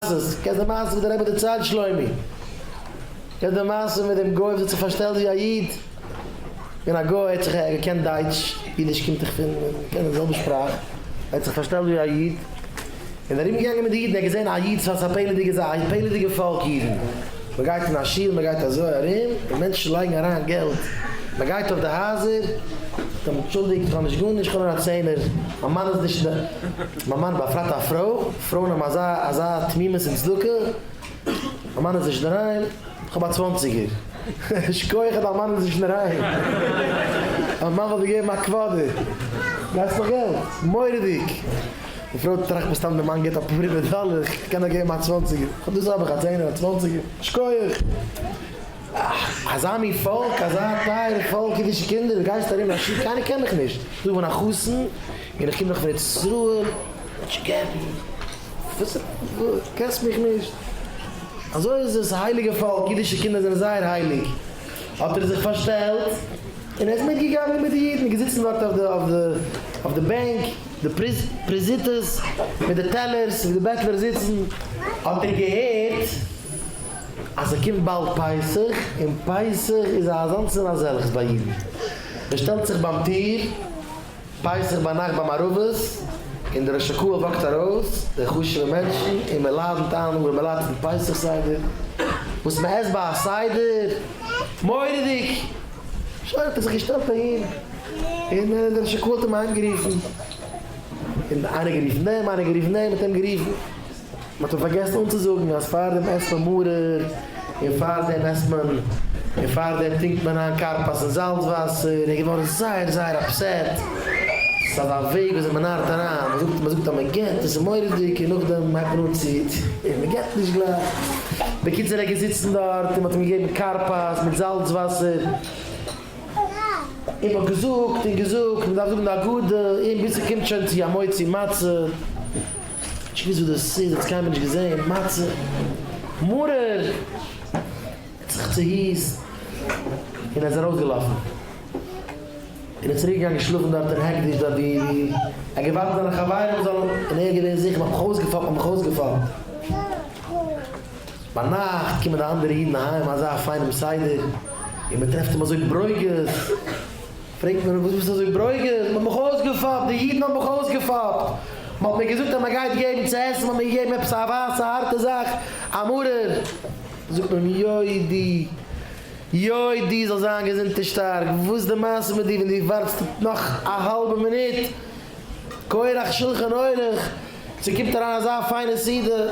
מעשה'ס, קענסט די מעשה וואס דער רבי דערציילט שלומי? קענסט די מעשה מיט דעם גוי וואס האט זיך פארשטעלט ווי א איד? און א גוי האט זיך ער געקענט דייטש, אידיש קומט דאך פון, מען קען די זעלבע שפראך, ער האט זיך פארשטעלט ווי א איד, און ארום געגאנגען מיט די אידן, ער האט געזען א איד, וואס א פעלעדיגע זאך, א פעלעדיגע פאלק אידן, מען גייט אין א שול, מען גייט אזוי ארום, און מענטשן לייגן אריין געלט, מען גייט אויף די הייזער, זאגט אים, אנטשולדיגט איך האב נישט גארנישט, איך האב נאר א צענער, מיין מאן איז נישט אין די, מיין מאן באפרייט א פרוי. פרויען האבן אזא אזא תמימות און צדקה, מיין מאן איז נישט אינדערהיים, כ'האב א צוואנציגער, שכוח אז דיין מאן איז נישט אינדערהיים, דיין מאן וואלט דיר געגעבן א קוואדער, גייסט נאך געלט? מורא'דיג! די פרוי טראכט מסתם די מאן גיבט אפאר הונדערט דאלער, כ'קען דאך געבן א צוואנציגער, חוץ דאס האב איך א צענער, א צוואנציגער, שכוח! אזא מין פאלק, אזא טייערע פאלק אידישע קינדער, גייסט ארום, קיינער קען מיך נישט, דא וואוינט א חתן, און איך קום דאך פון ארץ ישראל, נישט געבן, וואס, קענסט מיך נישט, אזוי איז עס, הייליגע פאלק, אידישע קינדער זענען זייער הייליג, האט ער זיך פארשטעלט, און ער איז מיט געגאנגען מיט די אידן, געזיצן דארט אויף די בענק, די פריזיטעס, מיט די טעלערס, ווי די בעטלער זיצן, האט ער געהערט, אז ס'קומט באלד פסח, און פסח איז א אזאנס און אזעלכס ביי אידן, ער שטעלט זיך ביים טיר, פסח ביינאכט ביי מערבית, און דער ראש הקהל וואקט ארויס, די חשוב'ע מענטשן, און מען לאדענט איין ארעמע לייט צום פסח סדר, וואס מען עסט ביי א סדר, מורא'דיג! שוין האט ער זיך געשטעלט אהין, און דער ראש הקהל האט אים אהיימגערופן, און איינער גערופן דעם, איינער גערופן דעם, מען האט אים גערופן. מען האט אים פארגעסן אנצוזאגן אז פאר דעם עסט מען מרור, און פאר דעם עסט מען, און פאר דעם טרינקט מען איין כרפס אין זאלץ וואסער, ער איז געווארן זייער זייער אפסעט, ס'איז אזא וועג ווי אזוי מען נארט אריין, מען זאגט, מען זאגט אז מען געט, עס איז מורא'דיג, און נאכדעם הייבט מען אן צו, און מען געט נישט גלייך, בקיצור ער איז געזיצן דארט און מען האט אים געגעבן כרפס מיט זאלץ וואסער, און מען האט געזאגט און געזאגט, מען דארף זאגן די הגדה, און ביז ס'קומט שוין צו המוציא מצה. איך וויס וואס דאס איז, דאס קיינמאל נישט געזען, מצה, מרור! האט זיך צוהיסט און ער איז ארויסגעלאפן. און איז צוריק געגאנגען שלאפן דארט אין העקדיש דארט ווי ער האט געווארט זיינע חברים זאלן און ער איז געווען זיכער מ'האט מיך אויסגעפאפט מ'האט מיך אויסגעפאפט. ביינאכט קומען די אנדערע אידן אהיים אזא פיינעם סדר און מ'טרעפט אים אזוי ברוגז. פרעגט מען אים, וואס ביסטו אזוי ברוגז? מען האט מיך אויסגעפאפט, די אידן האבן מיך אויסגעפאפט, מען האט מיר געזאגט אז מען גייט געבן צו עסן, מען האט מיר געגעבן עפעס א ווייסע הארטע זאך, א מרור. זאגט מען אים, יודי, יודי, זאלסט זיין געזונט און שטארק, וואס איז די מעשה מיט דיר, ווען דו ווארטסט נאך א האלבע מינוט, כורח שולחן עורך, צו קומט אריין אזא פיינע סעודה.